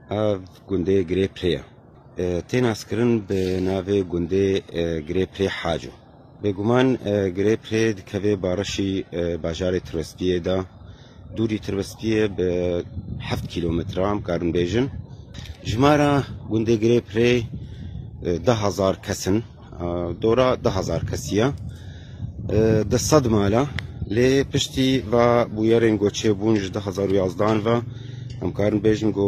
Ev gundê Girê Pirê ye. Tê naskirin bi navê gundê Girê Pirê Haco. Bêguman Girê Pirê dikeve barişî bajarê Tirbespiyê de. Dûrî Tirbespiyê bi heft kîlometran bikarin bêjin. Jimara gundê Girê Pirê du hezar kes in. Dora du hezar kesî ye. Di sed mala lê piştî va bûyerên ku çêbûn ji du hezar û yazdan ve em karin bêjin ku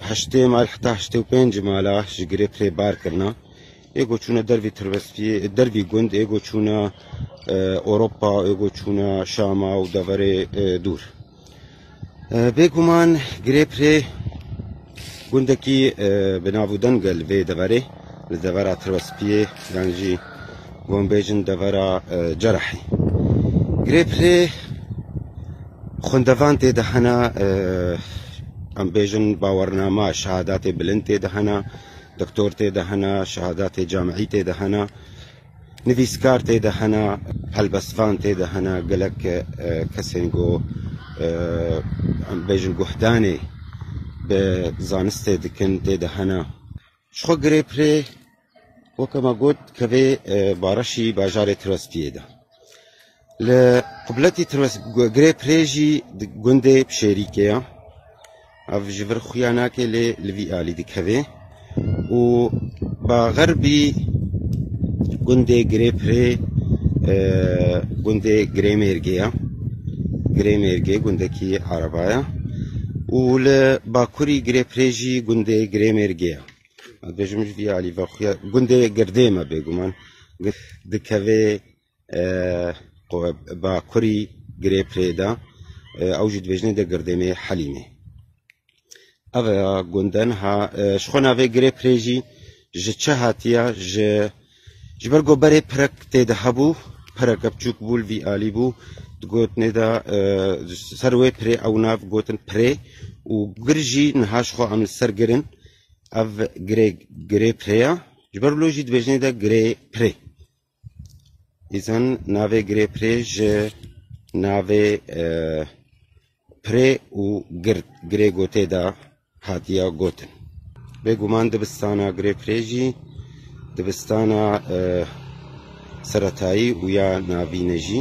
heştê mal heta heştê û pênc mala ji girê pirê bar kirine. Ê ku çûne dervî Tirbespiyê, dervî gund, ê ku çûne Ewropa, ê ku çûne Şama û deverê dûr. Bêguman Girêpirê gundekî bi navû Dengel vê deverê li devera Tirwespiyê yan jî wan bêjin devera Cerahî. Girêpirê xwendevan tê de hena em bêjin bawernama şehadatê bilind tê de hena, doktor tê de hena, şehadatê camîî tê de hena. Nivîskar tê de hene, helbestvan tê de hene, gelek kesên ku em bêjin guhdanê bi zanistê dikin tê de hene. Ji xwe girê pirê weke me got kevê Bareşî bajarê Tirospiyê de. Li Qubletê Tirwesgirê Pirê jî di gundê Pişêrîkê ye. Ev ji vir xuya nake lê li vî alî dikeve û baxerbî gundê Girê Pirê gundê Girê Mêrgê ye. Girê Mêrgê gundekî araba ye û li bakurî Girê Pirê jî gundê Girê Mêrgê ye. Dejim ji vî alî ve xuya gundê Girdê me bêguman dikeve Bakurî girê pirê de ew jî dibêjne de girdênê Helîmê. Ev gunde niha ji xwe navê girê pirê jî ji çi hatiye ji ji ber ku berê pirek tê de hebû pireke biçûk bû li vî alî bû digotinê de ser wê pirê ew nav gotin pirê û gir jî niha ji xwe em li ser girin ev girê girê pirê ye ji ber lojî dibêjinê de girê pirê. Îzin navê girê pirê ji navê e, pirê û gird girê gotê de hatiye gotin. Bêguman dibistana girê pirê jî dibistana e, seretayî û ya navîn e jî.